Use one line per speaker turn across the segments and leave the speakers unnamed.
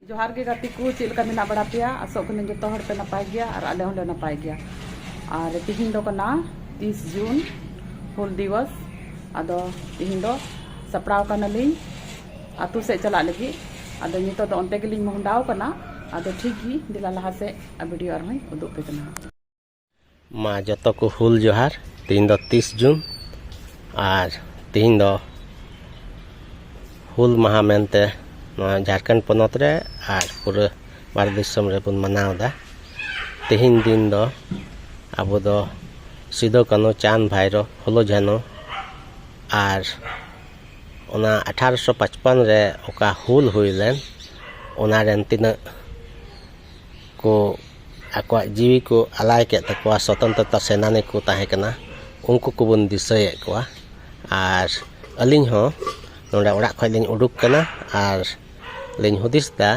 ᱡᱚᱦᱟᱨ ᱜᱮ ᱜᱟᱛᱮ ᱠᱚ ᱪᱮᱫ ᱞᱮᱠᱟ ᱢᱮᱱᱟᱜ ᱵᱟᱲᱟ ᱯᱮᱭᱟ ᱟᱥᱚᱜ ᱠᱟᱹᱱᱟᱹᱧ ᱡᱚᱛᱚ ᱦᱚᱲ ᱯᱮ ᱱᱟᱯᱟᱭ ᱜᱮᱭᱟ ᱟᱨ ᱟᱞᱮ ᱦᱚᱸᱞᱮ ᱱᱟᱯᱟᱭ ᱜᱮᱭᱟ ᱟᱨ ᱛᱤᱦᱤᱧ ᱫᱚ ᱠᱟᱱᱟ ᱛᱤᱥ ᱡᱩᱱ ᱦᱩᱞ ᱫᱤᱵᱚᱥ ᱟᱫᱚ ᱛᱤᱦᱤᱧ ᱫᱚ ᱥᱟᱯᱲᱟᱣ ᱠᱟᱱᱟᱞᱤᱧ ᱟᱛᱳ ᱥᱮᱫ ᱪᱟᱞᱟᱜ ᱞᱟᱹᱜᱤᱫ ᱟᱫᱚ ᱱᱤᱛᱚᱜ ᱫᱚ ᱚᱱᱛᱮ ᱜᱮᱞᱤᱧ ᱢᱚᱦᱰᱟᱣ ᱠᱟᱱᱟ ᱟᱫᱚ ᱴᱷᱤᱠ ᱜᱮ ᱫᱮᱞᱟ ᱞᱟᱦᱟ ᱥᱮᱫ ᱵᱷᱤᱰᱤᱭᱳ ᱟᱨᱦᱚᱸᱧ ᱩᱫᱩᱜ ᱯᱮ ᱠᱟᱱᱟ ᱢᱟ ᱡᱚᱛᱚ ᱠᱚ ᱦᱩᱞ ᱡᱚᱦᱟᱨ ᱛᱮᱦᱮᱧ ᱫᱚ ᱛᱤᱥ ᱡᱩᱱ ᱟᱨ ᱛᱮᱦᱮᱧ ᱫᱚ ᱦᱩᱞ ᱢᱟᱦᱟ ᱢᱮᱱᱛᱮ ᱱᱚᱣᱟ ᱡᱷᱟᱲᱠᱷᱚᱸᱰ ᱯᱚᱱᱚᱛ ᱨᱮ ᱟᱨ ᱯᱩᱨᱟᱹ ᱵᱷᱟᱨᱚᱛ ᱫᱤᱥᱚᱢ ᱨᱮᱵᱚᱱ ᱢᱟᱱᱟᱣᱫᱟ ᱛᱮᱦᱮᱧ ᱫᱤᱱ ᱫᱚ ᱟᱵᱚ ᱫᱚ ᱥᱤᱫᱩ ᱠᱟᱹᱱᱩ ᱪᱟᱸᱫᱽ ᱵᱷᱟᱭᱨᱚ ᱯᱷᱩᱞᱳ ᱡᱷᱟᱱᱚ ᱟᱨ ᱚᱱᱟ ᱟᱴᱷᱟᱨᱚᱥᱚ ᱯᱟᱸᱪᱯᱚᱱ ᱨᱮ ᱚᱠᱟ ᱦᱩᱞ ᱦᱩᱭ ᱞᱮᱱ ᱚᱱᱟ ᱨᱮᱱ ᱛᱤᱱᱟᱹᱜ ᱠᱚ ᱟᱠᱚᱣᱟᱜ ᱡᱤᱣᱤ ᱠᱚ ᱟᱞᱟᱭ ᱠᱮᱫ ᱛᱟᱠᱚᱣᱟ ᱥᱚᱛᱚᱱᱛᱨᱚᱛᱟ ᱥᱮᱱᱟᱱᱤ ᱠᱚ ᱛᱟᱦᱮᱸ ᱠᱟᱱᱟ ᱩᱱᱠᱩ ᱠᱚᱵᱚᱱ ᱫᱤᱥᱟᱹᱭᱮᱫ ᱠᱚᱣᱟ ᱟᱨ ᱟᱹᱞᱤᱧ ᱦᱚᱸ ᱱᱚᱰᱮ ᱚᱲᱟᱜ ᱠᱷᱚᱱ ᱞᱤᱧ ᱩᱰᱩᱠ ᱠᱟᱱᱟ ᱟᱨ ᱞᱤᱧ ᱦᱩᱫᱤᱥ ᱮᱫᱟ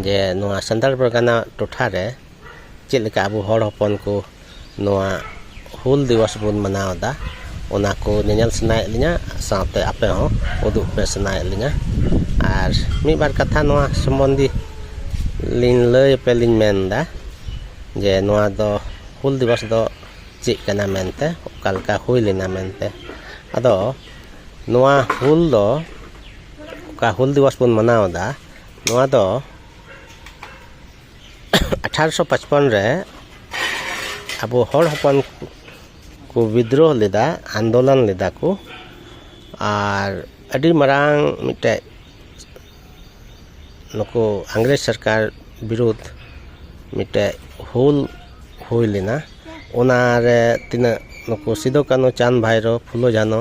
ᱡᱮ ᱱᱚᱣᱟ ᱥᱟᱱᱛᱟᱲ ᱯᱟᱨᱜᱟᱱᱟ ᱴᱚᱴᱷᱟᱨᱮ ᱪᱮᱫ ᱞᱮᱠᱟ ᱟᱵᱚ ᱦᱚᱲ ᱦᱚᱯᱚᱱ ᱠᱚ ᱱᱚᱣᱟ ᱦᱩᱞ ᱫᱤᱵᱚᱥ ᱵᱚᱱ ᱢᱟᱱᱟᱣ ᱮᱫᱟ ᱚᱱᱟ ᱠᱚ ᱧᱮᱧᱮᱞ ᱥᱟᱱᱟᱭᱮᱫ ᱞᱤᱧᱟᱹ ᱥᱟᱶᱛᱮ ᱟᱯᱮ ᱦᱚᱸ ᱩᱫᱩᱜ ᱯᱮ ᱥᱟᱱᱟᱭᱮᱫ ᱞᱤᱧᱟᱹ ᱟᱨ ᱢᱤᱫ ᱵᱟᱨ ᱠᱟᱛᱷᱟ ᱱᱚᱣᱟ ᱥᱚᱢᱚᱱᱫᱷᱮ ᱞᱤᱧ ᱞᱟᱹᱭ ᱟᱯᱮ ᱞᱤᱧ ᱢᱮᱱ ᱮᱫᱟ ᱡᱮ ᱱᱚᱣᱟ ᱫᱚ ᱦᱩᱞ ᱫᱤᱵᱚᱥ ᱫᱚ ᱪᱮᱫ ᱠᱟᱱᱟ ᱢᱮᱱᱛᱮ ᱚᱠᱟ ᱞᱮᱠᱟ ᱦᱩᱭ ᱞᱮᱱᱟ ᱢᱮᱱᱛᱮ ᱟᱫᱚ ᱱᱚᱣᱟ ᱦᱩᱞ ᱫᱚ ᱚᱠᱟ ᱦᱩᱞ ᱫᱤᱵᱚᱥ ᱵᱚᱱ ᱢᱟᱱᱟᱣ ᱮᱫᱟ ᱱᱚᱣᱟ ᱫᱚ ᱟᱴᱷᱟᱨᱚᱥᱚ ᱯᱟᱸᱪᱯᱚᱱ ᱨᱮ ᱟᱵᱚ ᱦᱚᱲ ᱦᱚᱯᱚᱱ ᱠᱚ ᱵᱤᱫᱽᱫᱨᱳᱦᱚ ᱞᱮᱫᱟ ᱟᱱᱫᱳᱞᱚᱱ ᱞᱮᱫᱟ ᱠᱚ ᱟᱨ ᱟᱹᱰᱤ ᱢᱟᱨᱟᱝ ᱢᱤᱫᱴᱮᱱ ᱱᱩᱠᱩ ᱤᱝᱨᱮᱡᱽ ᱥᱚᱨᱠᱟᱨ ᱵᱤᱨᱩᱫᱽ ᱢᱤᱫᱴᱮᱱ ᱦᱩᱞ ᱦᱩᱭ ᱞᱮᱱᱟ ᱚᱱᱟᱨᱮ ᱛᱤᱱᱟᱹᱜ ᱱᱩᱠᱩ ᱥᱤᱫᱩ ᱠᱟᱹᱱᱩ ᱪᱟᱸᱫᱽ ᱵᱷᱟᱭᱨᱳ ᱯᱷᱩᱞᱳ ᱡᱷᱟᱱᱳ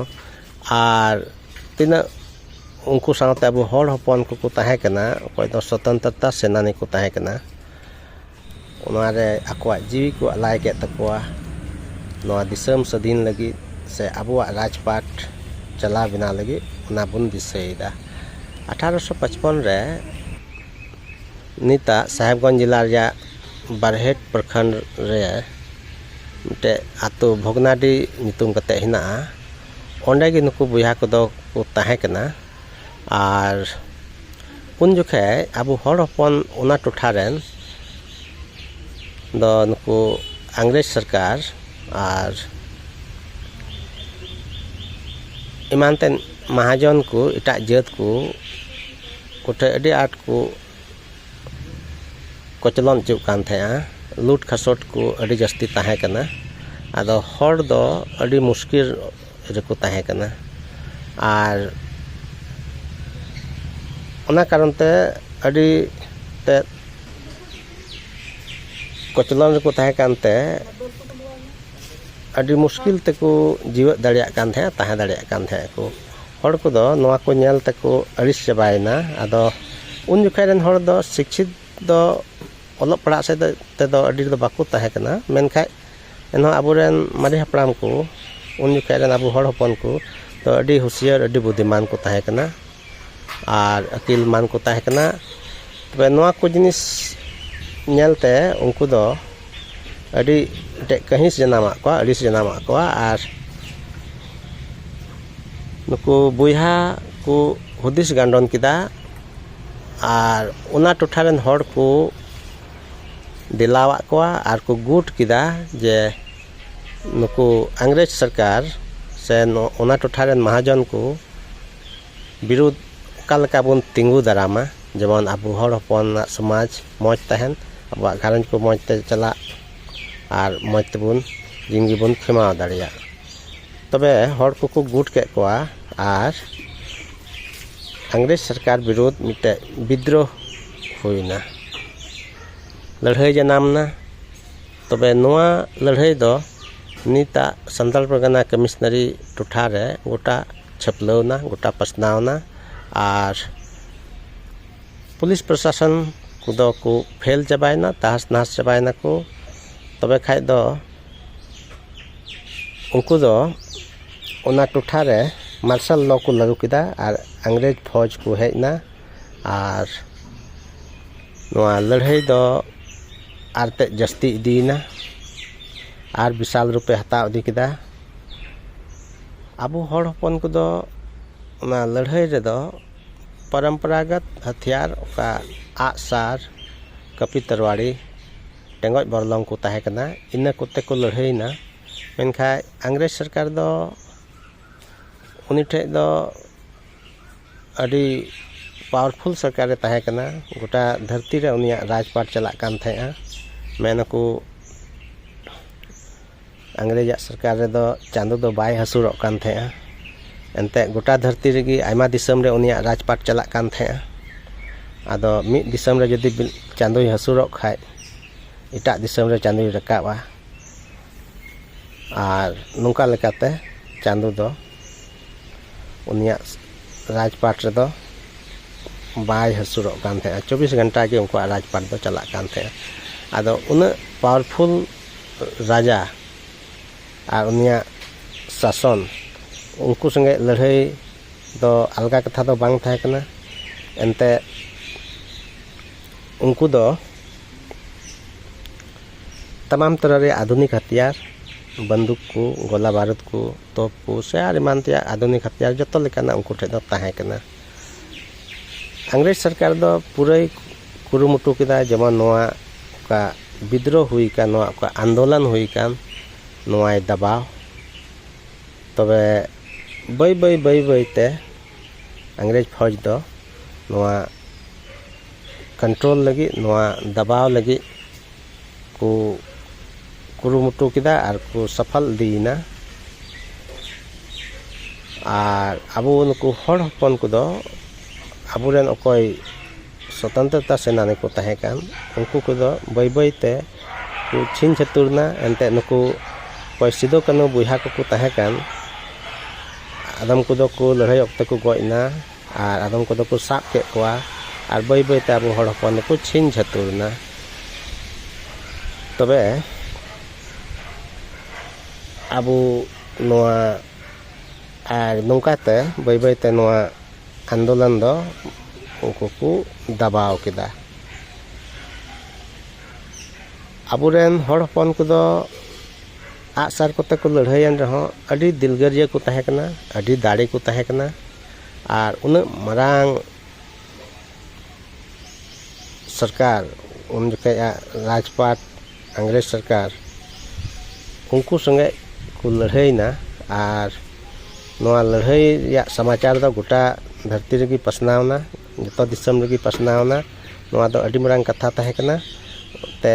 ᱟᱨ ᱛᱤᱱᱟᱹᱜ ᱩᱱᱠᱩ ᱥᱟᱶᱛᱮ ᱟᱵᱚ ᱦᱚᱲ ᱦᱚᱯᱚᱱ ᱠᱚᱠᱚ ᱛᱟᱦᱮᱸ ᱠᱟᱱᱟ ᱚᱠᱚᱭ ᱫᱚ ᱥᱚᱛᱚᱱᱛᱨᱚᱛᱟ ᱥᱮᱱᱟᱱᱤ ᱠᱚ ᱛᱟᱦᱮᱸ ᱠᱟᱱᱟ ᱚᱱᱟ ᱨᱮ ᱟᱠᱚᱣᱟᱜ ᱡᱤᱣᱤ ᱠᱚ ᱟᱞᱟᱭ ᱠᱮᱫ ᱛᱟᱠᱚᱣᱟ ᱱᱚᱣᱟ ᱫᱤᱥᱚᱢ ᱥᱟᱹᱫᱷᱤᱱ ᱞᱟᱹᱜᱤᱫ ᱥᱮ ᱟᱵᱚᱣᱟᱜ ᱨᱟᱡᱽᱯᱟᱴ ᱪᱟᱞᱟᱣ ᱵᱮᱱᱟᱣ ᱞᱟᱹᱜᱤᱫ ᱚᱱᱟ ᱵᱚᱱ ᱫᱤᱥᱟᱹᱭᱮᱫᱟ ᱟᱴᱷᱟᱨᱚᱥᱚ ᱯᱟᱸᱪᱯᱚᱱ ᱨᱮ ᱱᱤᱛᱟᱜ ᱥᱟᱦᱮᱵᱽᱜᱚᱸᱡᱽ ᱡᱮᱞᱟ ᱨᱮᱭᱟᱜ ᱵᱟᱨᱦᱮᱴ ᱯᱨᱚᱠᱷᱚᱸᱰ ᱨᱮ ᱢᱤᱫᱴᱮᱱ ᱟᱹᱛᱩ ᱵᱷᱚᱜᱽᱱᱟᱰᱤ ᱧᱩᱛᱩᱢ ᱠᱟᱛᱮᱫ ᱦᱮᱱᱟᱜᱼᱟ ᱚᱸᱰᱮ ᱜᱮ ᱱᱩᱠᱩ ᱵᱚᱭᱦᱟ ᱠᱚᱫᱚ ᱠᱚ ᱛᱟᱦᱮᱸ ᱠᱟᱱᱟ ᱟᱨ ᱩᱱ ᱡᱚᱠᱷᱮᱡ ᱟᱵᱚ ᱦᱚᱲ ᱦᱚᱯᱚᱱ ᱚᱱᱟ ᱴᱚᱴᱷᱟ ᱨᱮᱱ ᱫᱚ ᱱᱩᱠᱩ ᱤᱝᱨᱮᱡᱽ ᱥᱚᱨᱠᱟᱨ ᱟᱨ ᱮᱢᱟᱱ ᱛᱮᱱ ᱢᱟᱦᱟᱡᱚᱱ ᱠᱚ ᱮᱴᱟᱜ ᱡᱟᱹᱛ ᱠᱚ ᱠᱚᱴᱷᱮᱡ ᱟᱹᱰᱤ ᱟᱸᱴ ᱠᱚ ᱠᱚᱪᱞᱚᱱ ᱚᱪᱚᱜ ᱠᱟᱱ ᱛᱟᱦᱮᱸᱫᱼᱟ ᱞᱩᱴ ᱠᱷᱟᱥᱚᱴ ᱠᱚ ᱟᱹᱰᱤ ᱡᱟᱹᱥᱛᱤ ᱛᱟᱦᱮᱸ ᱠᱟᱱᱟ ᱟᱫᱚ ᱦᱚᱲ ᱫᱚ ᱟᱹᱰᱤ ᱢᱩᱥᱠᱤᱞ ᱨᱮᱠᱚ ᱛᱟᱦᱮᱸ ᱠᱟᱱᱟ ᱟᱨ ᱚᱱᱟ ᱠᱟᱨᱚᱱ ᱛᱮ ᱟᱹᱰᱤ ᱛᱮᱫ ᱠᱚᱪᱞᱚᱱ ᱨᱮᱠᱚ ᱛᱟᱦᱮᱸ ᱠᱟᱱ ᱛᱮ ᱟᱹᱰᱤ ᱢᱩᱥᱠᱤᱞ ᱛᱮᱠᱚ ᱡᱮᱣᱭᱮᱫ ᱫᱟᱲᱮᱭᱟᱜ ᱠᱟᱱ ᱛᱟᱦᱮᱸᱫᱼᱟ ᱛᱟᱦᱮᱸ ᱫᱟᱲᱮᱭᱟᱜ ᱠᱟᱱ ᱛᱟᱦᱮᱸᱫᱼᱟ ᱠᱚ ᱦᱚᱲ ᱠᱚᱫᱚ ᱱᱚᱣᱟ ᱠᱚ ᱧᱮᱞ ᱛᱮᱠᱚ ᱟᱹᱲᱤᱥ ᱪᱟᱵᱟᱭᱮᱱᱟ ᱟᱫᱚ ᱩᱱ ᱡᱚᱠᱷᱟᱡ ᱨᱮᱱ ᱦᱚᱲ ᱫᱚ ᱥᱤᱪᱪᱷᱤᱛ ᱫᱚ ᱚᱞᱚᱜ ᱯᱟᱲᱦᱟᱜ ᱥᱮᱫ ᱛᱮᱫᱚ ᱟᱹᱰᱤ ᱫᱚ ᱵᱟᱠᱚ ᱛᱟᱦᱮᱸ ᱠᱟᱱᱟ ᱢᱮᱱᱠᱷᱟᱡ ᱮᱱᱦᱚᱸ ᱟᱵᱚ ᱨᱮᱱ ᱢᱟᱨᱮ ᱦᱟᱯᱲᱟᱢ ᱠᱚ ᱩᱱ ᱡᱚᱠᱷᱟᱡ ᱨᱮᱱ ᱟᱵᱚ ᱦᱚᱲ ᱦᱚᱯᱚᱱ ᱠᱚ ᱫᱚ ᱟᱹᱰᱤ ᱦᱩᱥᱭᱟᱹᱨ ᱟᱹᱰᱤ ᱵᱩᱫᱷᱤᱢᱟᱱ ᱠᱚ ᱛᱟᱦᱮᱸ ᱠᱟᱱᱟ ᱟᱨ ᱟᱹᱠᱤᱞ ᱢᱟᱱ ᱠᱚ ᱛᱟᱦᱮᱸ ᱠᱟᱱᱟ ᱛᱚᱵᱮ ᱱᱚᱣᱟ ᱠᱚ ᱡᱤᱱᱤᱥ ᱧᱮᱞᱛᱮ ᱩᱱᱠᱩ ᱫᱚ ᱟᱹᱰᱤ ᱢᱤᱫᱴᱮᱡ ᱠᱟᱹᱦᱤᱥ ᱡᱟᱱᱟᱢᱟᱫ ᱠᱚᱣᱟ ᱟᱹᱲᱤᱥ ᱡᱟᱱᱟᱢᱟᱫ ᱠᱚᱣᱟ ᱟᱨ ᱱᱩᱠᱩ ᱵᱚᱭᱦᱟ ᱠᱚ ᱦᱩᱫᱤᱥ ᱜᱟᱱᱰᱚᱱ ᱠᱮᱫᱟ ᱟᱨ ᱚᱱᱟ ᱴᱚᱴᱷᱟ ᱨᱮᱱ ᱦᱚᱲ ᱠᱚ ᱫᱮᱞᱟᱣᱟᱫ ᱠᱚᱣᱟ ᱟᱨ ᱠᱚ ᱜᱩᱴ ᱠᱮᱫᱟ ᱡᱮ ᱱᱩᱠᱩ ᱤᱝᱨᱮᱡᱽ ᱥᱚᱨᱠᱟᱨ ᱥᱮ ᱚᱱᱟ ᱴᱚᱴᱷᱟ ᱨᱮᱱ ᱢᱟᱦᱟᱡᱚᱱ ᱠᱚ ᱵᱤᱨᱩᱫᱷ ᱚᱠᱟ ᱞᱮᱠᱟ ᱵᱚᱱ ᱛᱤᱸᱜᱩ ᱫᱟᱨᱟᱢᱟ ᱡᱮᱢᱚᱱ ᱟᱵᱚ ᱦᱚᱲ ᱦᱚᱯᱚᱱᱟᱜ ᱥᱚᱢᱟᱡᱽ ᱢᱚᱡᱽ ᱛᱟᱦᱮᱱ ᱟᱵᱚᱣᱟᱜ ᱜᱷᱟᱨᱚᱸᱡᱽ ᱠᱚ ᱢᱚᱡᱽ ᱛᱮ ᱪᱟᱞᱟᱜ ᱟᱨ ᱢᱚᱡᱽ ᱛᱮᱵᱚᱱ ᱫᱤᱱ ᱜᱮᱵᱚᱱ ᱠᱷᱮᱢᱟᱣ ᱫᱟᱲᱮᱭᱟᱜ ᱛᱚᱵᱮ ᱦᱚᱲ ᱠᱚᱠᱚ ᱜᱩᱴ ᱠᱮᱫ ᱠᱚᱣᱟ ᱟᱨ ᱤᱝᱨᱮᱹᱡᱽ ᱥᱚᱨᱠᱟᱨ ᱵᱤᱨᱩᱫᱷ ᱢᱤᱫᱴᱮᱱ ᱵᱤᱫᱽᱫᱨᱳᱦ ᱦᱩᱭᱱᱟ ᱞᱟᱹᱲᱦᱟᱹᱭ ᱡᱟᱱᱟᱢ ᱮᱱᱟ ᱛᱚᱵᱮ ᱱᱚᱣᱟ ᱞᱟᱹᱲᱦᱟᱹᱭ ᱫᱚ ᱱᱤᱛᱟᱜ ᱥᱟᱱᱛᱟᱲ ᱯᱟᱨᱜᱟᱱᱟ ᱠᱟᱹᱢᱤᱥᱱᱟᱹᱨᱤ ᱴᱚᱴᱷᱟ ᱨᱮ ᱜᱚᱴᱟ ᱪᱷᱟᱹᱯᱞᱟᱹᱣ ᱮᱱᱟ ᱜᱚᱴᱟ ᱯᱟᱥᱱᱟᱣ ᱮᱱᱟ ᱟᱨ ᱯᱩᱞᱤᱥ ᱯᱨᱚᱥᱟᱥᱚᱱ ᱠᱚᱫᱚ ᱠᱚ ᱯᱷᱮᱞ ᱪᱟᱵᱟᱭᱮᱱᱟ ᱛᱟᱦᱚᱥ ᱱᱟᱦᱚᱥ ᱪᱟᱵᱟᱭᱮᱱᱟ ᱠᱚ ᱛᱚᱵᱮ ᱠᱷᱟᱱ ᱫᱚ ᱩᱱᱠᱩ ᱫᱚ ᱚᱱᱟ ᱴᱚᱴᱷᱟ ᱨᱮ ᱢᱟᱨᱥᱟᱞ ᱞᱚ ᱠᱚ ᱞᱟᱹᱜᱩ ᱠᱮᱫᱟ ᱟᱨ ᱤᱝᱨᱮᱹᱡᱽ ᱯᱷᱳᱡᱽ ᱠᱚ ᱦᱮᱡ ᱮᱱᱟ ᱟᱨ ᱱᱚᱣᱟ ᱞᱟᱹᱲᱦᱟᱹᱭ ᱫᱚ ᱟᱨ ᱛᱮᱫ ᱡᱟᱹᱥᱛᱤ ᱤᱫᱤᱭᱮᱱᱟ ᱟᱨ ᱵᱤᱥᱟᱞ ᱨᱩᱯᱮ ᱦᱟᱛᱟᱣ ᱤᱫᱤ ᱠᱮᱫᱟ ᱟᱵᱚ ᱦᱚᱲ ᱦᱚᱯᱚᱱ ᱠᱚᱫᱚ ᱚᱱᱟ ᱞᱟᱹᱲᱦᱟᱹᱭ ᱨᱮᱫᱚ ᱯᱚᱨᱚᱢᱯᱚᱨᱟᱜᱚᱛ ᱦᱟᱛᱤᱭᱟᱨ ᱚᱠᱟ ᱟᱜ ᱥᱟᱨ ᱠᱟᱹᱯᱤ ᱛᱟᱨᱣᱟᱲᱤ ᱴᱮᱸᱜᱚᱡ ᱵᱚᱨᱞᱚᱝ ᱠᱚ ᱛᱟᱦᱮᱸ ᱠᱟᱱᱟ ᱤᱱᱟᱹ ᱠᱚᱛᱮ ᱠᱚ ᱞᱟᱹᱲᱦᱟᱹᱭᱮᱱᱟ ᱢᱮᱱᱠᱷᱟᱱ ᱤᱝᱨᱮᱹᱡᱽ ᱥᱚᱨᱠᱟᱨ ᱫᱚ ᱩᱱᱤ ᱴᱷᱮᱱ ᱫᱚ ᱟᱹᱰᱤ ᱯᱟᱣᱟᱨᱯᱷᱩᱞ ᱥᱚᱨᱠᱟᱨᱮ ᱛᱟᱦᱮᱸ ᱠᱟᱱᱟ ᱜᱚᱴᱟ ᱫᱷᱟᱹᱨᱛᱤ ᱨᱮ ᱩᱱᱤᱭᱟᱜ ᱨᱟᱡᱽᱯᱟᱴ ᱪᱟᱞᱟᱜ ᱠᱟᱱ ᱛᱟᱦᱮᱸᱫᱼᱟ ᱢᱮᱱᱟᱠᱚ ᱤᱝᱨᱮᱡᱽ ᱟᱜ ᱥᱚᱨᱠᱟᱨ ᱨᱮᱫᱚ ᱪᱟᱸᱫᱚ ᱫᱚ ᱵᱟᱭ ᱦᱟᱹᱥᱩᱨᱚᱜ ᱠᱟᱱ ᱛᱟᱦᱮᱸᱜᱼᱟ ᱮᱱᱛᱮᱜ ᱜᱚᱴᱟ ᱫᱷᱟᱹᱨᱛᱤ ᱨᱮᱜᱮ ᱟᱭᱢᱟ ᱫᱤᱥᱚᱢ ᱨᱮ ᱩᱱᱤᱭᱟᱜ ᱨᱟᱡᱽ ᱯᱟᱴ ᱪᱟᱞᱟᱜ ᱠᱟᱱ ᱛᱟᱦᱮᱸᱜᱼᱟ ᱟᱫᱚ ᱢᱤᱫ ᱫᱤᱥᱚᱢ ᱨᱮ ᱡᱩᱫᱤ ᱪᱟᱸᱫᱚᱭ ᱦᱟᱹᱥᱩᱨᱚᱜ ᱠᱷᱟᱡ ᱮᱴᱟᱜ ᱫᱤᱥᱚᱢ ᱨᱮ ᱪᱟᱸᱫᱚᱭ ᱨᱟᱠᱟᱵᱼᱟ ᱟᱨ ᱱᱚᱝᱠᱟ ᱞᱮᱠᱟᱛᱮ ᱪᱟᱸᱫᱚ ᱫᱚ ᱩᱱᱤᱭᱟᱜ ᱨᱟᱡᱽᱯᱟᱴ ᱨᱮᱫᱚ ᱵᱟᱭ ᱦᱟᱹᱥᱩᱨᱚᱜ ᱠᱟᱱ ᱛᱟᱦᱮᱸᱜᱼᱟ ᱪᱚᱵᱵᱤᱥ ᱜᱷᱚᱱᱴᱟ ᱜᱮ ᱩᱱᱠᱩᱣᱟᱜ ᱨᱟᱡᱽᱯᱟᱴ ᱫᱚ ᱪᱟᱞᱟᱜ ᱠᱟᱱ ᱛᱟᱦᱮᱸᱜᱼᱟ ᱟᱫᱚ ᱩᱱᱟᱹᱜ ᱯᱟᱣᱟᱨᱯᱷᱩᱞ ᱨᱟᱡᱟ ᱟᱨ ᱩᱱᱤᱭᱟᱜ ᱥᱟᱥᱚᱱ ᱩᱱᱠᱩ ᱥᱚᱸᱜᱮ ᱞᱟᱹᱲᱦᱟᱹᱭ ᱫᱚ ᱟᱞᱜᱟ ᱠᱟᱛᱷᱟ ᱫᱚ ᱵᱟᱝ ᱛᱟᱦᱮᱸ ᱠᱟᱱᱟ ᱮᱱᱛᱮ ᱩᱱᱠᱩ ᱫᱚ ᱛᱟᱢᱟᱢ ᱛᱚᱨᱟ ᱨᱮᱭᱟᱜ ᱟᱫᱷᱩᱱᱤᱠ ᱦᱟᱛᱤᱭᱟᱨ ᱵᱟᱱᱫᱩᱠ ᱠᱚ ᱜᱚᱞᱟ ᱵᱟᱨᱩᱫ ᱠᱚ ᱛᱚᱯᱩ ᱥᱮ ᱟᱨ ᱮᱢᱟᱱ ᱛᱮᱭᱟᱜ ᱟᱫᱷᱩᱱᱤᱠ ᱦᱟᱛᱭᱟᱨ ᱡᱚᱛᱚ ᱞᱮᱠᱟᱱᱟᱜ ᱩᱱᱠᱩ ᱴᱷᱮᱱ ᱫᱚ ᱛᱟᱦᱮᱸ ᱠᱟᱱᱟ ᱤᱝᱨᱮᱡᱽ ᱥᱚᱨᱠᱟᱨ ᱫᱚ ᱯᱩᱨᱟᱹᱭ ᱠᱩᱨᱩᱢᱩᱴᱩ ᱠᱮᱫᱟ ᱡᱮᱢᱚᱱ ᱱᱚᱣᱟ ᱚᱠᱟ ᱵᱤᱫᱽᱨᱳ ᱦᱩᱭ ᱟᱠᱟᱱ ᱱᱚᱣᱟ ᱚᱠᱟ ᱟᱱᱫᱳᱞᱚᱱ ᱦᱩᱭ ᱟᱠᱟᱱ ᱱᱚᱣᱟᱭ ᱫᱟᱵᱟᱣ ᱛᱚᱵᱮ ᱵᱟᱹᱭ ᱵᱟᱹᱭ ᱵᱟᱹᱭ ᱵᱟᱹᱭ ᱛᱮ ᱤᱝᱨᱮᱡᱽ ᱯᱷᱳᱡᱽ ᱫᱚ ᱱᱚᱣᱟ ᱠᱚᱱᱴᱨᱳᱞ ᱞᱟᱹᱜᱤᱫ ᱱᱚᱣᱟ ᱫᱟᱵᱟᱣ ᱞᱟᱹᱜᱤᱫ ᱠᱚ ᱠᱩᱨᱩᱢᱩᱴᱩ ᱠᱮᱫᱟ ᱟᱨ ᱠᱚ ᱥᱟᱯᱷᱟᱞ ᱤᱫᱤᱭᱮᱱᱟ ᱟᱨ ᱟᱵᱚ ᱱᱩᱠᱩ ᱦᱚᱲ ᱦᱚᱯᱚᱱ ᱠᱚᱫᱚ ᱟᱵᱚ ᱨᱮᱱ ᱚᱠᱚᱭ ᱥᱚᱛᱚᱱᱛᱨᱚᱛᱟ ᱥᱮᱱᱟᱱᱤ ᱠᱚ ᱛᱟᱦᱮᱸ ᱠᱟᱱ ᱩᱱᱠᱩ ᱠᱚᱫᱚ ᱵᱟᱹᱭ ᱵᱟᱹᱭ ᱛᱮ ᱠᱚ ᱪᱷᱤᱝ ᱪᱷᱟᱹᱛᱩᱨ ᱮᱱᱟ ᱮᱱᱛᱮᱫ ᱱᱩᱠᱩ ᱚᱠᱚᱭ ᱥᱤᱫᱩ ᱠᱟᱹᱱᱦᱩ ᱵᱚᱭᱦᱟ ᱠᱚᱠᱚ ᱛᱟᱦᱮᱸ ᱠᱟᱱ ᱟᱫᱚᱢ ᱠᱚᱫᱚ ᱠᱚ ᱞᱟᱹᱲᱦᱟᱹᱭ ᱚᱠᱛᱮ ᱠᱚ ᱜᱚᱡ ᱮᱱᱟ ᱟᱨ ᱟᱫᱚᱢ ᱠᱚᱫᱚ ᱠᱚ ᱥᱟᱵ ᱠᱮᱫ ᱠᱚᱣᱟ ᱟᱨ ᱵᱟᱹᱭ ᱵᱟᱹᱭ ᱛᱮ ᱟᱵᱚ ᱦᱚᱲ ᱦᱚᱯᱚᱱ ᱫᱚᱠᱚ ᱪᱷᱤᱱ ᱪᱷᱟᱹᱛᱩᱨ ᱮᱱᱟ ᱛᱚᱵᱮ ᱟᱵᱚ ᱱᱚᱣᱟ ᱟᱨ ᱱᱚᱝᱠᱟ ᱛᱮ ᱵᱟᱹᱭ ᱵᱟᱹᱭ ᱛᱮ ᱱᱚᱣᱟ ᱟᱱᱫᱳᱞᱚᱱ ᱫᱚ ᱩᱱᱠᱩ ᱠᱚ ᱫᱟᱵᱟᱣ ᱠᱮᱫᱟ ᱟᱵᱚᱨᱮᱱ ᱦᱚᱲ ᱦᱚᱯᱚᱱ ᱠᱚᱫᱚ ᱟᱜᱼᱥᱟᱨ ᱠᱚᱛᱮ ᱠᱚ ᱞᱟᱹᱲᱦᱟᱹᱭᱮᱱ ᱨᱮᱦᱚᱸ ᱟᱹᱰᱤ ᱫᱤᱞᱜᱟᱹᱨᱤᱭᱟᱹ ᱠᱚ ᱛᱟᱦᱮᱸ ᱠᱟᱱᱟ ᱟᱹᱰᱤ ᱫᱟᱲᱮ ᱠᱚ ᱛᱟᱦᱮᱸ ᱠᱟᱱᱟ ᱟᱨ ᱩᱱᱟᱹᱜ ᱢᱟᱨᱟᱝ ᱥᱚᱨᱠᱟᱨ ᱩᱱ ᱡᱚᱠᱷᱮᱡᱟᱜ ᱨᱟᱡᱽᱯᱟᱴ ᱤᱝᱨᱮᱡᱽ ᱥᱚᱨᱠᱟᱨ ᱩᱱᱠᱩ ᱥᱚᱸᱜᱮ ᱠᱚ ᱞᱟᱹᱲᱦᱟᱹᱭᱮᱱᱟ ᱟᱨ ᱱᱚᱣᱟ ᱞᱟᱹᱲᱦᱟᱹᱭ ᱨᱮᱭᱟᱜ ᱥᱟᱢᱟᱪᱟᱨ ᱫᱚ ᱜᱚᱴᱟ ᱫᱷᱟᱹᱨᱛᱤ ᱨᱮᱜᱮ ᱯᱟᱥᱱᱟᱣᱮᱱᱟ ᱡᱚᱛᱚ ᱫᱤᱥᱚᱢ ᱨᱮᱜᱮ ᱯᱟᱥᱱᱟᱣᱮᱱᱟ ᱱᱚᱣᱟ ᱫᱚ ᱟᱹᱰᱤ ᱢᱟᱨᱟᱝ ᱠᱟᱛᱷᱟ ᱛᱟᱦᱮᱸ ᱠᱟᱱᱟ ᱛᱮ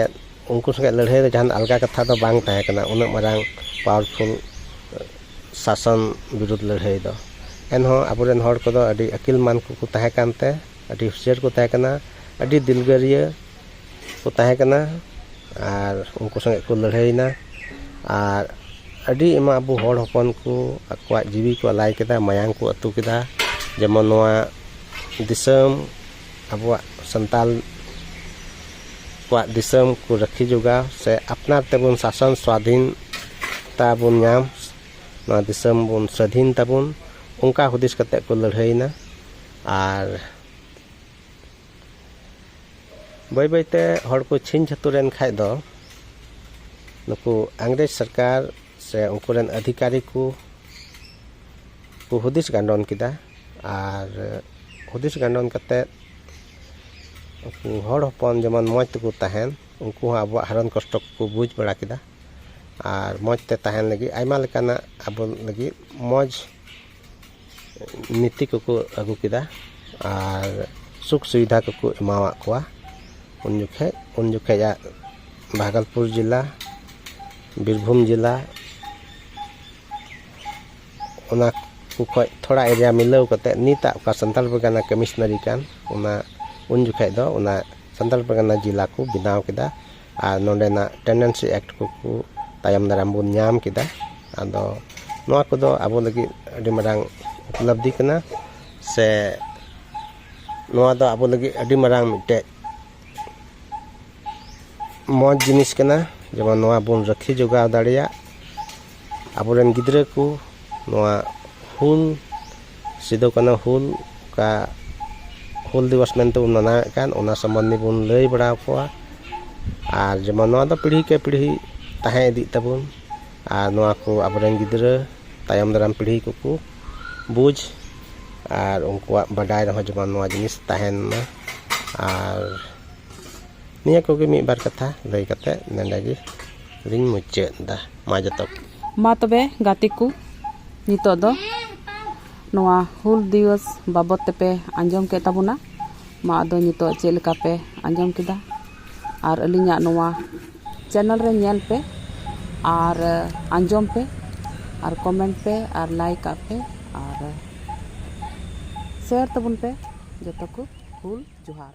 ᱩᱱᱠᱩ ᱥᱚᱸᱜᱮ ᱞᱟᱹᱲᱦᱟᱹᱭ ᱫᱚ ᱡᱟᱦᱟᱱ ᱟᱞᱜᱟ ᱠᱟᱛᱷᱟ ᱫᱚ ᱵᱟᱝ ᱛᱟᱦᱮᱸ ᱠᱟᱱᱟ ᱩᱱᱟᱹᱜ ᱢᱟᱨᱟᱝ ᱯᱟᱣᱟᱨᱯᱷᱩᱞ ᱥᱟᱥᱚᱱ ᱵᱤᱨᱩᱫᱷ ᱞᱟᱹᱲᱦᱟᱹᱭ ᱫᱚ ᱮᱱᱦᱚᱸ ᱟᱵᱚᱨᱮᱱ ᱦᱚᱲ ᱠᱚᱫᱚ ᱟᱹᱰᱤ ᱟᱹᱠᱤᱞ ᱢᱟᱱ ᱠᱚᱠᱚ ᱛᱟᱦᱮᱸ ᱠᱟᱱᱛᱮ ᱟᱹᱰᱤ ᱦᱩᱥᱭᱟᱹᱨ ᱠᱚ ᱛᱟᱦᱮᱸ ᱠᱟᱱᱟ ᱟᱹᱰᱤ ᱫᱤᱞᱜᱟᱹᱨᱤᱭᱟᱹ ᱠᱚ ᱛᱟᱦᱮᱸ ᱠᱟᱱᱟ ᱟᱨ ᱩᱱᱠᱩ ᱥᱚᱸᱜᱮ ᱠᱚ ᱞᱟᱹᱲᱦᱟᱹᱭᱮᱱᱟ ᱟᱨ ᱟᱹᱰᱤ ᱮᱢᱟᱱ ᱟᱵᱚ ᱦᱚᱲ ᱦᱚᱯᱚᱱ ᱠᱚ ᱟᱠᱚᱣᱟᱜ ᱡᱤᱣᱤ ᱠᱚ ᱟᱞᱟᱭ ᱠᱮᱫᱟ ᱢᱟᱭᱟᱝ ᱠᱚ ᱟᱹᱛᱩ ᱠᱮᱫᱟ ᱡᱮᱢᱚᱱ ᱱᱚᱣᱟ ᱫᱤᱥᱚᱢ ᱟᱵᱚᱣᱟᱜ ᱥᱟᱱᱛᱟᱞ ᱠᱚᱣᱟᱜ ᱫᱤᱥᱚᱢ ᱠᱚ ᱨᱟᱹᱠᱷᱤ ᱡᱚᱜᱟᱣ ᱥᱮ ᱟᱯᱱᱟᱨ ᱛᱮᱵᱚᱱ ᱥᱟᱥᱚᱱ ᱥᱣᱟᱫᱷᱤᱱᱛᱟ ᱵᱚᱱ ᱧᱟᱢ ᱱᱚᱣᱟ ᱫᱤᱥᱚᱢ ᱵᱚᱱ ᱥᱟᱹᱫᱷᱤᱱ ᱛᱟᱵᱚᱱ ᱚᱱᱠᱟ ᱦᱩᱫᱤᱥ ᱠᱟᱛᱮ ᱠᱚ ᱞᱟᱹᱲᱦᱟᱹᱭᱮᱱᱟ ᱟᱨ ᱵᱟᱹᱭ ᱵᱟᱹᱭᱛᱮ ᱦᱚᱲ ᱠᱚ ᱪᱷᱤᱝ ᱪᱷᱟᱹᱛᱩᱨᱮᱱ ᱠᱷᱟᱡ ᱫᱚ ᱱᱩᱠᱩ ᱤᱝᱨᱮᱡᱽ ᱥᱚᱨᱠᱟᱨ ᱥᱮ ᱩᱱᱠᱩ ᱨᱮᱱ ᱟᱫᱷᱤᱠᱟᱨᱤ ᱠᱚ ᱠᱚ ᱦᱩᱫᱤᱥ ᱜᱟᱱᱰᱚᱱ ᱠᱮᱫᱟ ᱟᱨ ᱦᱩᱫᱤᱥ ᱜᱟᱰᱚᱱ ᱠᱟᱛᱮ ᱩᱱᱠᱩ ᱦᱚᱲ ᱦᱚᱯᱚᱱ ᱡᱮᱢᱚᱱ ᱢᱚᱡᱽ ᱛᱮᱠᱚ ᱛᱟᱦᱮᱱ ᱩᱱᱠᱩ ᱦᱚᱸ ᱟᱵᱚᱣᱟᱜ ᱦᱟᱨᱚᱱ ᱠᱚᱥᱴᱚ ᱠᱚᱠᱚ ᱵᱩᱡᱽ ᱵᱟᱲᱟ ᱠᱮᱫᱟ ᱟᱨ ᱢᱚᱡᱽ ᱛᱮ ᱛᱟᱦᱮᱱ ᱞᱟᱹᱜᱤᱫ ᱟᱭᱢᱟ ᱞᱮᱠᱟᱱᱟᱜ ᱟᱵᱚ ᱞᱟᱹᱜᱤᱫ ᱢᱚᱡᱽ ᱱᱤᱛᱤ ᱠᱚᱠᱚ ᱟᱹᱜᱩ ᱠᱮᱫᱟ ᱟᱨ ᱥᱩᱠ ᱥᱩᱵᱤᱫᱷᱟ ᱠᱚᱠᱚ ᱮᱢᱟᱣᱟᱜ ᱠᱚᱣᱟ ᱩᱱ ᱡᱚᱠᱷᱮᱡ ᱩᱱ ᱡᱚᱠᱷᱮᱡᱟᱜ ᱵᱷᱟᱜᱚᱞᱯᱩᱨ ᱡᱮᱞᱟ ᱵᱤᱨᱵᱷᱩᱢ ᱡᱮᱞᱟ ᱚᱱᱟ ᱠᱚ ᱠᱷᱚᱡ ᱛᱷᱚᱲᱟ ᱮᱨᱤᱭᱟ ᱢᱤᱞᱟᱹᱣ ᱠᱟᱛᱮ ᱱᱤᱛᱟᱜ ᱚᱠᱟ ᱥᱟᱱᱛᱟᱲ ᱯᱟᱨᱜᱟᱱᱟ ᱠᱟᱹᱢᱤᱥᱱᱟᱹᱨᱤ ᱠᱟᱱ ᱚᱱᱟ ᱩᱱ ᱡᱚᱠᱷᱮᱡ ᱫᱚ ᱚᱱᱟ ᱥᱟᱱᱛᱟᱲ ᱯᱟᱨᱜᱟᱱᱟ ᱡᱮᱞᱟ ᱠᱚ ᱵᱮᱱᱟᱣ ᱠᱮᱫᱟ ᱟᱨ ᱱᱚᱰᱮᱱᱟᱜ ᱴᱮᱱᱰᱮᱱᱥᱤ ᱮᱠᱴ ᱠᱚ ᱠᱚ ᱛᱟᱭᱚᱢ ᱫᱟᱨᱟᱢ ᱵᱚᱱ ᱧᱟᱢ ᱠᱮᱫᱟ ᱟᱫᱚ ᱱᱚᱣᱟ ᱠᱚᱫᱚ ᱟᱵᱚ ᱞᱟᱹᱜᱤᱫ ᱟᱹᱰᱤ ᱢᱟᱨᱟᱝ ᱩᱯᱞᱚᱵᱽᱫᱷᱤ ᱠᱟᱱᱟ ᱥᱮ ᱱᱚᱣᱟ ᱫᱚ ᱟᱵᱚ ᱞᱟᱹᱜᱤᱫ ᱟᱹᱰᱤ ᱢᱟᱨᱟᱝ ᱢᱤᱫᱴᱮᱡ ᱢᱚᱡᱽ ᱡᱤᱱᱤᱥ ᱠᱟᱱᱟ ᱡᱮᱢᱚᱱ ᱱᱚᱣᱟ ᱵᱚᱱ ᱨᱟᱹᱠᱷᱤ ᱡᱚᱜᱟᱣ ᱫᱟᱲᱮᱭᱟᱜ ᱟᱵᱚᱨᱮᱱ ᱜᱤᱫᱽᱨᱟᱹ ᱠᱚ ᱱᱚᱣᱟ ᱦᱩᱞ ᱥᱤᱫᱩ ᱠᱟᱹᱱᱦᱩ ᱦᱩᱞ ᱚᱠᱟ ᱦᱩᱞ ᱫᱤᱵᱚᱥ ᱢᱮᱱᱛᱮ ᱵᱚᱱ ᱢᱟᱱᱟᱣᱮᱫ ᱠᱟᱱ ᱚᱱᱟ ᱥᱚᱢᱚᱱᱫᱷᱮ ᱵᱚᱱ ᱞᱟᱹᱭ ᱵᱟᱲᱟ ᱟᱠᱚᱣᱟ ᱟᱨ ᱡᱮᱢᱚᱱ ᱱᱚᱣᱟ ᱫᱚ ᱯᱤᱲᱦᱤ ᱠᱮ ᱯᱤᱲᱦᱤ ᱛᱟᱦᱮᱸ ᱤᱫᱤᱜ ᱛᱟᱵᱚᱱ ᱟᱨ ᱱᱚᱣᱟ ᱠᱚ ᱟᱵᱚᱨᱮᱱ ᱜᱤᱫᱽᱨᱟᱹ ᱛᱟᱭᱚᱢ ᱫᱟᱨᱟᱢ ᱯᱤᱲᱦᱤ ᱠᱚᱠᱚ ᱵᱩᱡᱽ ᱟᱨ ᱩᱱᱠᱩᱣᱟᱜ ᱵᱟᱰᱟᱭ ᱨᱮᱦᱚᱸ ᱡᱮᱢᱚᱱ ᱱᱚᱣᱟ ᱡᱤᱱᱤᱥ ᱛᱟᱦᱮᱱ ᱢᱟ ᱟᱨ ᱱᱤᱭᱟᱹ ᱠᱚᱜᱮ ᱢᱤᱫ ᱵᱟᱨ ᱠᱟᱛᱷᱟ ᱞᱟᱹᱭ ᱠᱟᱛᱮᱫ ᱱᱚᱰᱮ ᱜᱮᱞᱤᱧ ᱢᱩᱪᱟᱹᱫ ᱮᱫᱟ ᱢᱟ ᱡᱚᱛᱚ ᱢᱟ ᱛᱚᱵᱮ ᱜᱟᱛᱮ ᱠᱚ ᱱᱤᱛᱚᱜ ᱫᱚ ᱱᱚᱣᱟ ᱦᱩᱞ ᱫᱤᱵᱚᱥ ᱵᱟᱵᱚᱫ ᱛᱮᱯᱮ ᱟᱸᱡᱚᱢ ᱠᱮᱫ ᱛᱟᱵᱚᱱᱟ ᱢᱟ ᱟᱫᱚ ᱱᱤᱛᱚᱜ ᱪᱮᱫ ᱞᱮᱠᱟ ᱯᱮ ᱟᱸᱡᱚᱢ ᱠᱮᱫᱟ ᱟᱨ ᱟᱹᱞᱤᱧᱟᱜ ᱱᱚᱣᱟ ᱪᱮᱱᱮᱞ ᱨᱮ ᱧᱮᱞ ᱯᱮ ᱟᱨ ᱟᱸᱡᱚᱢ ᱯᱮ ᱟᱨ ᱠᱚᱢᱮᱱᱴ ᱯᱮ ᱟᱨ ᱞᱟᱭᱤᱠ ᱟᱜ ᱯᱮ ᱟᱨ ᱥᱮᱭᱟᱨ ᱛᱟᱵᱚᱱ ᱯᱮ ᱡᱚᱛᱚ ᱠᱚ ᱦᱩᱞ ᱡᱚᱦᱟᱨ